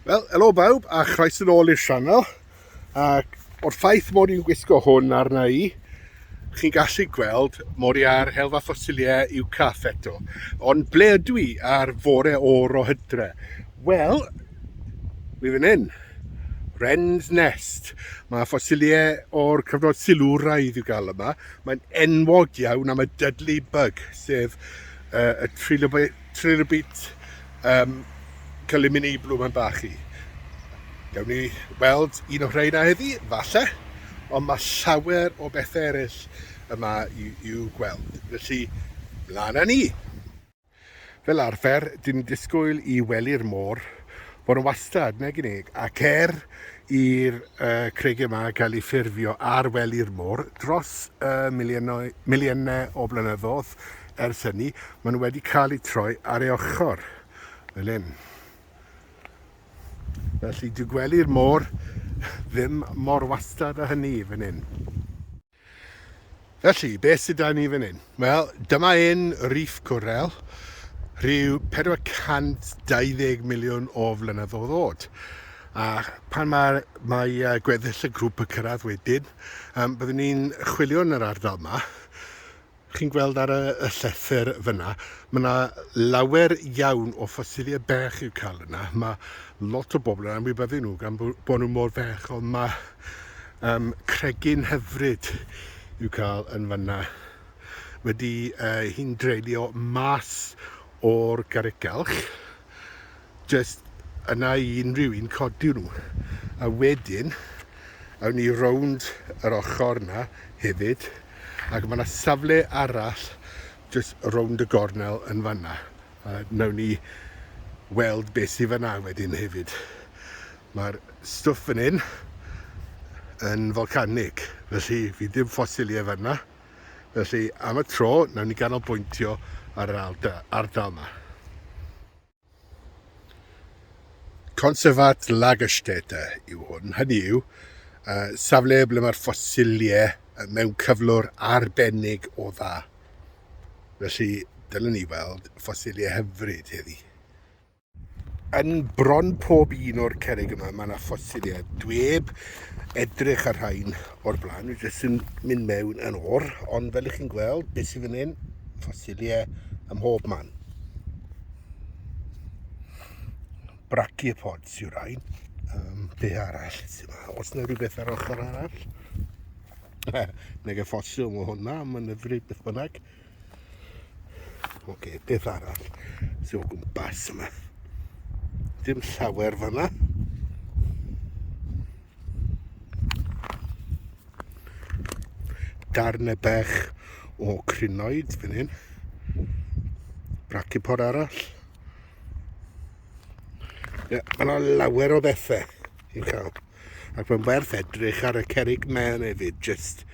Wel, helo bawb a chroes yn ôl i'r sianel ac o'r ffaith mod i'n gwisgo hwn arna i chi'n gallu gweld mod i ar helfa ffosiliau i'w caff eto ond ble ydw i ar fore o'r o hydre? Wel, mi fan hyn Wren's Nest mae ffosiliau o'r cyfnod silwraidd i'w gael yma Mae'n enwog iawn am y Dudley Bug, sef uh, y trilobit, trilobit um, cylumini blwm yn bach i. Gawn ni weld un o rhain a heddi, falle, ond mae llawer o bethau eraill yma i'w gweld. Felly, mlaen â ni! Fel arfer, dyn ni'n disgwyl i wely'r môr fod yn wastad, nag y'n ni? Ac er i'r uh, creigiau yma gael eu ffurfio ar wely'r môr dros y uh, miliynau, miliynau o blynyddoedd ers hynny, maen nhw wedi cael eu troi ar ei ochr, fel hyn. Felly, dwi gwely'r môr ddim mor wastad a hynny fan hyn. Felly, beth sydd da ni fan hyn? Wel, dyma un Reef Coral, rhyw 420 miliwn o flynyddoedd ddod. A pan mae, mae gweddill y grŵp yn cyrraedd wedyn, um, byddwn ni'n chwilio yn yr ardal yma, Chi'n gweld ar y y llethr fyna, ma' 'na lawer iawn o ffosilie bech i'w cael yna. Ma' lot o bobl yn anwybyddu nhw gan bo' bo' nhw mor fech, ond ma' yym cregyn hyfryd i'w cael yn fanna. Wedi yy hi'n dreulio mas o'r garreg galch. jyst yna i unrhyw un codi nhw a wedyn awn ni rownd yr ochr yna hefyd ac mae yna safle arall jyst rownd y gornel yn fanna a nawn ni weld beth sydd fanna wedyn hefyd. Mae'r stwff fan hyn yn folcanig felly fi ddim ffosiliau fanna felly am y tro nawn ni ganolbwyntio ar yr ardal yma. Conservat Lagerstätte yw hwn, hynny yw, safle ble mae'r ffosiliau mewn cyflwr arbennig o dda. Felly, dylen ni weld ffosiliau hyfryd heddi. Yn bron pob un o'r cerrig yma, mae yna ffosiliau. Dweb edrych ar rhain, o'r blaen, dwi jyst yn mynd mewn yn o'r, ond fel ych chi'n gweld, beth sydd fan hyn, ffosiliau ym mhob man. Brachiopods yw'r rhain. Um, be arall sydd yma? Os yna rhywbeth ar ochr arall? Neg y ffosil o hwnna, mae'n yfryd beth bynnag. Oce, okay, beth arall sy'n o gwmpas yma? Dim llawer fanna. Darn y bech o crinoed fan hyn. Bracipod arall. Ie, yeah, mae yna lawer o bethau i'w cael. Ac mae'n werth edrych ar y cerrig mêl hefyd, jyst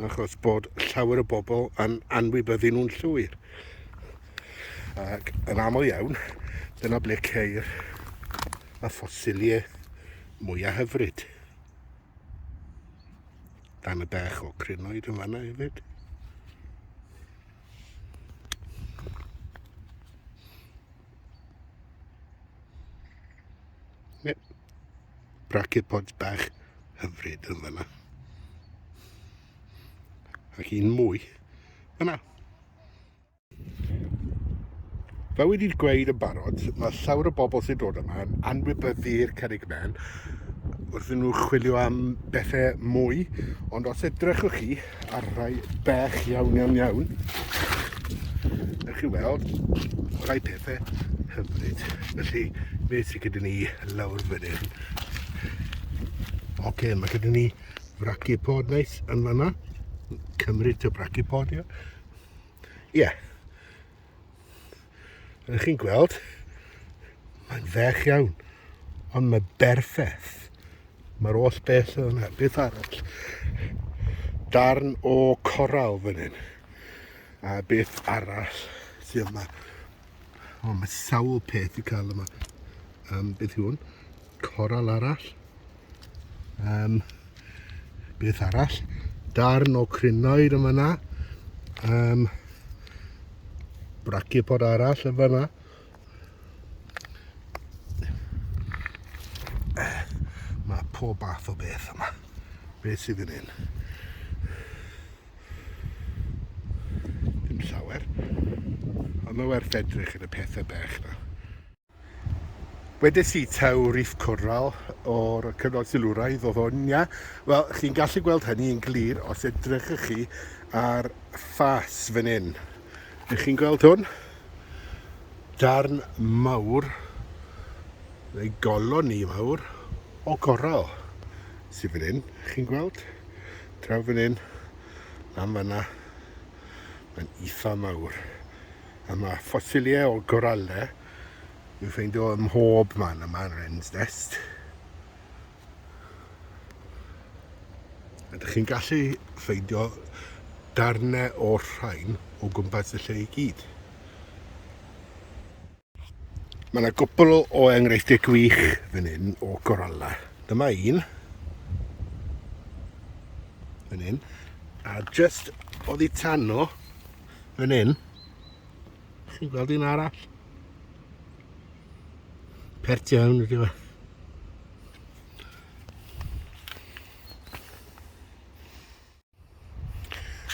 achos bod llawer o bobl yn anwybyddu nhw'n llwyr. Ac yn aml iawn, dyna ble ceir y ffosiliau mwyaf hyfryd. Dan y bech o crinoed yn fanna hefyd. brachiopods bach hyfryd yn fanna. Ac un mwy fanna. Fe wedi'r gweud yn barod, mae llawer o bobl sy'n dod yma yn anwybyddu'r cerig men wrth nhw chwilio am bethau mwy, ond os edrychwch chi, ar rai bech iawn iawn iawn. Ewch chi weld rai pethau hyfryd. Felly, fe sy'n gyda ni lawr fan hyn. Ok, mae gyda ni brachipod neis yn fanna. Cymryd y brachipod, ie. Yeah. Rydych chi'n gweld, mae'n fech iawn, ond mae berffaith. Mae'r oll beth yna, beth arall? Darn o coral fan hyn. A beth arall sydd yma? O, mae sawl peth i cael yma. Um, beth yw hwn? Coral arall. Um, beth arall? Darn o crinoed yma na. Um, brachipod arall yma na. Mae pob bath o beth yma. Beth sydd yn un? Dim llawer. Ond mae werth edrych yn y pethau bech na. Wedes i taw Reef Coral o'r cyfnod silwraidd oedd hwn, ia? Wel, chi'n gallu gweld hynny yn glir os edrychwch chi ar ffas fan hyn. Ydych chi'n gweld hwn? Darn mawr, neu goloni mawr, o goral sydd fan hyn, chi'n gweld? Draw fan hyn, am fanna, mae'n eitha mawr. A mae ffosiliau o goralau i'w ffeindio ym mhob man yma yn Wren's Nest. Ydych chi'n gallu ffeindio darnau o'r rhain o gwmpas y lle i gyd. Mae yna gwpl o enghreifftiau gwych fan hyn o goralla. Dyma un. Fan hyn. A just oddi tano, Yn un. Chi'n gweld un arall? Pert iawn ydy fe.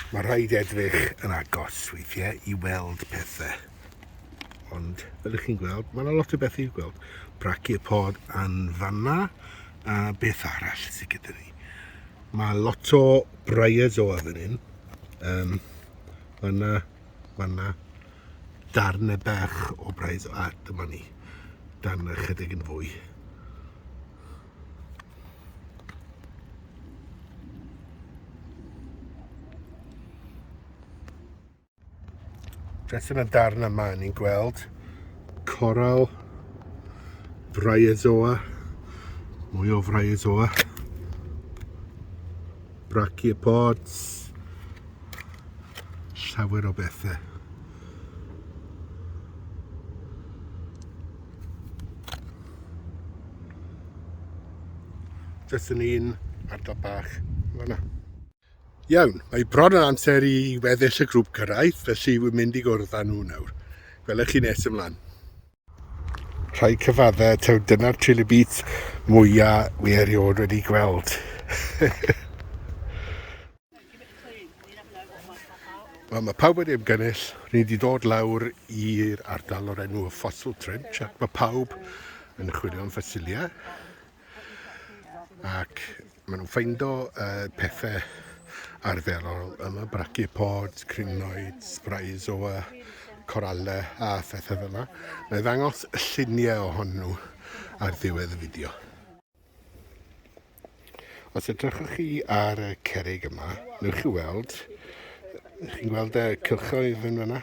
Mae rhaid edrych yn agos weithiau i weld pethau. Ond, fel ydych chi'n gweld, mae yna lot o bethau i'w gweld. Braci y pod yn fanna, a beth arall sydd gyda ni. Mae lot o briars o fan hyn. Um, fanna, fanna, darnau bach o briars, a dyma ni, darnau chydig yn fwy. Beth yn y darn yma ni'n gweld coral fraiazoa, mwy o fraiazoa, brachiopods, llawer o bethau. Jyst yn un ardal bach, fanna. Iawn, mae bron yn amser i weddill y grŵp gyrraedd, felly wy'n mynd i gwrdd â nhw nawr. Gwelwch chi nes ymlaen. Rhai cyfaddau, taw dyna'r chili beats mwyaf mi erioed wedi gweld. Wel, mae pawb wedi ymgynnull, ni wedi dod lawr i'r ardal o'r enw y Fossil Trench, ac mae pawb yn chwilio am ffosilia. ac maen nhw'n ffeindo uh, pethau arferol yma, brachiopods, crinoid, spraezoa, coralau a phethau fel yna. Mae ddangos lluniau ohonyn nhw ar ddiwedd y fideo. Os edrychwch chi ar y cerig yma, newch chi weld, chi'n gweld y cylchoedd yn fyna?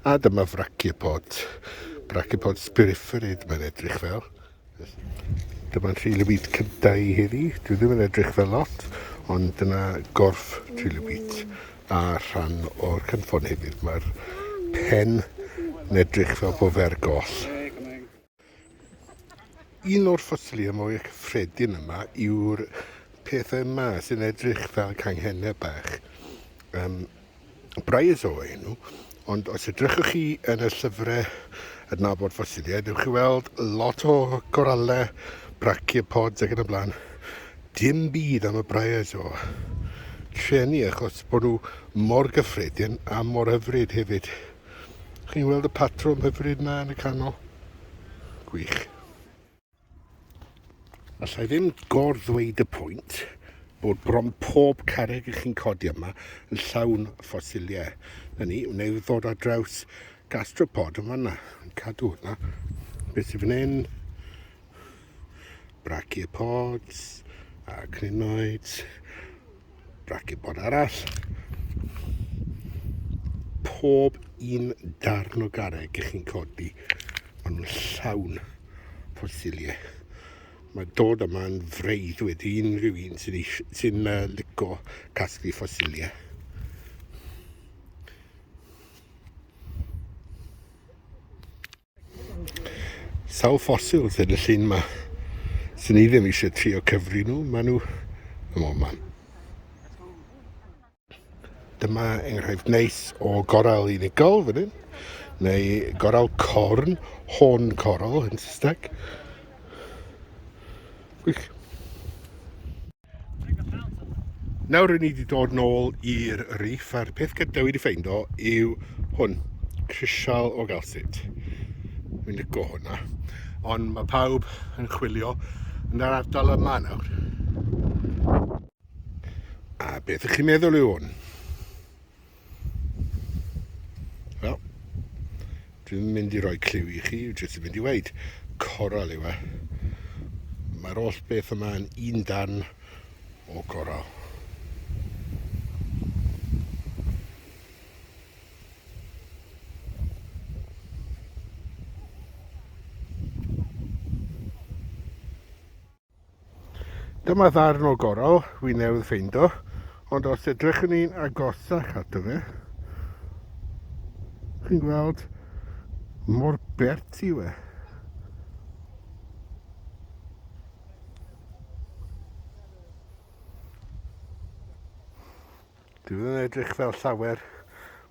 A dyma fraciopod, braciopod spiriferid mae'n edrych fel. Dyma'n trilobyd cyntaf i heddi, dwi ddim yn edrych fel lot, ond dyna gorff trilobyd a rhan o'r cynffon hefyd. Mae'r pen yn edrych fel bod fe'r goll. Un o'r ffosilau mwy cyffredin yma yw'r pethau yma sy'n edrych fel canghennau bach. Um, Briars o enw, ond os edrychwch chi yn y llyfrau adnabod ffosiliau, dewch chi weld lot o goralau, brachiopods ac yn y blaen. Dim byd am y briars o trenu achos bod nhw mor gyffredin a mor hyfryd hefyd. Chi'n gweld y patrwm hyfryd yna yn y canol? Gwych. Alla i ddim gor-ddweud y pwynt bod bron pob carreg i chi'n codi yma yn llawn ffosiliau. Na ni, wna i ddod ar draws gastropod yn fanna, yn cadw hwnna. Beth sy'n fan hyn? Brachiopods a crinoids. Braced bod arall. Pob un darn o garreg ych chi'n codi, maen nhw'n llawn ffosiliau. Mae dod yma'n freudd wedi unrhyw un sy'n sy uh, lico casglu ffosiliau. Sawl ffosil sydd yn y llun yma? Swn i ddim eisiau trio cyfri nhw, maen nhw ym mhob man. Dyma enghraifft neis o goral unigol fan hyn, neu goral corn, horn coral yn Saesneg. Gwych. Nawr rydyn ni wedi dod nôl i'r reef a'r peth gyda wedi ffeindo yw hwn, crisial o galsid. Mi'n licio hwnna. Ond mae pawb yn chwilio yn yr ardal yma nawr. A beth ych chi'n meddwl yw hwn? Wel, dwi'n mynd i roi clyw i chi, jyst i fynd i weid, coral yw e. Mae'r oll beth yma yn un dan o coral. Dyma ddarn o gorol fi newydd ffeindo, ond os edrychwn ni'n agosach ato fe, chi'n gweld mor bert i we. Dwi'n edrych fel llawer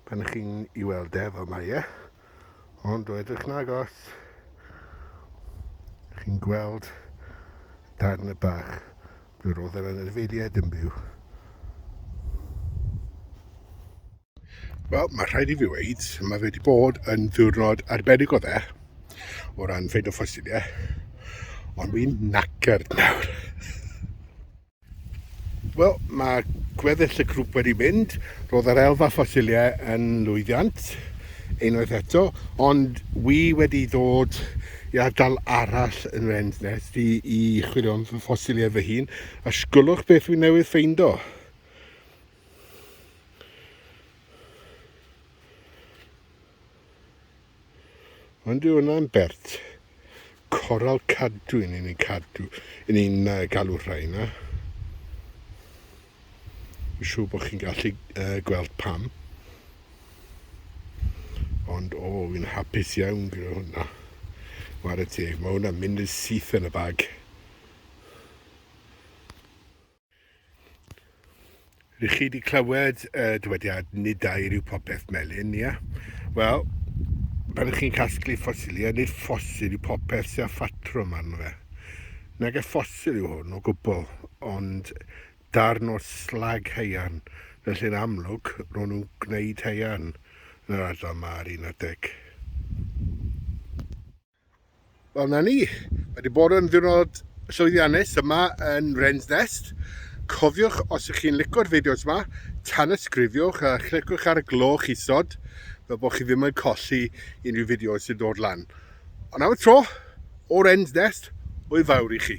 pan chi'n i weld e, fel mae e. Ond o edrych yn agos, chi'n gweld darn y bach drwy'r roedd yr anifeiliaid yn byw. Wel, mae rhaid i fi weid, mae fe wedi bod yn ddiwrnod arbennig o dde, o ran ffeid o ffosiliau, ond fi'n nacard nawr. Wel, mae gweddill y grŵp wedi mynd. Roedd yr elfa ffosiliau yn lwyddiant, unwaith eto, ond wi wedi dod i ardal arall yn Wren's Nest i, i chwilio am fy ffosiliau fy hun, a sgwlwch beth wi newydd ffeindo. Ond yw hwnna'n bert? Coral cadw yn ni'n cadw, yn ni'n uh, galw rhaina. Yn siŵr bod chi'n gallu uh, gweld pam. Ond o, oh, fi'n hapus iawn gyda hwnna. Wara teg, mae hwnna'n mynd yn syth yn y bag. Rych chi wedi clywed y dywediad nid dair yw popeth melyn, ia? Wel, pan ych chi'n casglu ffosiliau, nid ffosil yw popeth sy'n ffatrwm arno fe. Nag e ffosil yw hwn o gwbl, ond darn o slag haearn, felly yn amlwg ro'n nhw'n gwneud haearn yn yr ardal yma ar un adeg. Wel, 'na ni. Mae 'di bod yn ddiwrnod llwyddiannus yma yn Wren's Nest. Cofiwch, os ych chi'n lico'r fideos yma, tanysgrifiwch a chlicwch ar y gloch isod fel bod chi ddim yn colli unrhyw fideos sy'n dod lan. Ond am y tro, o Wren's Nest, hwyl fawr i chi.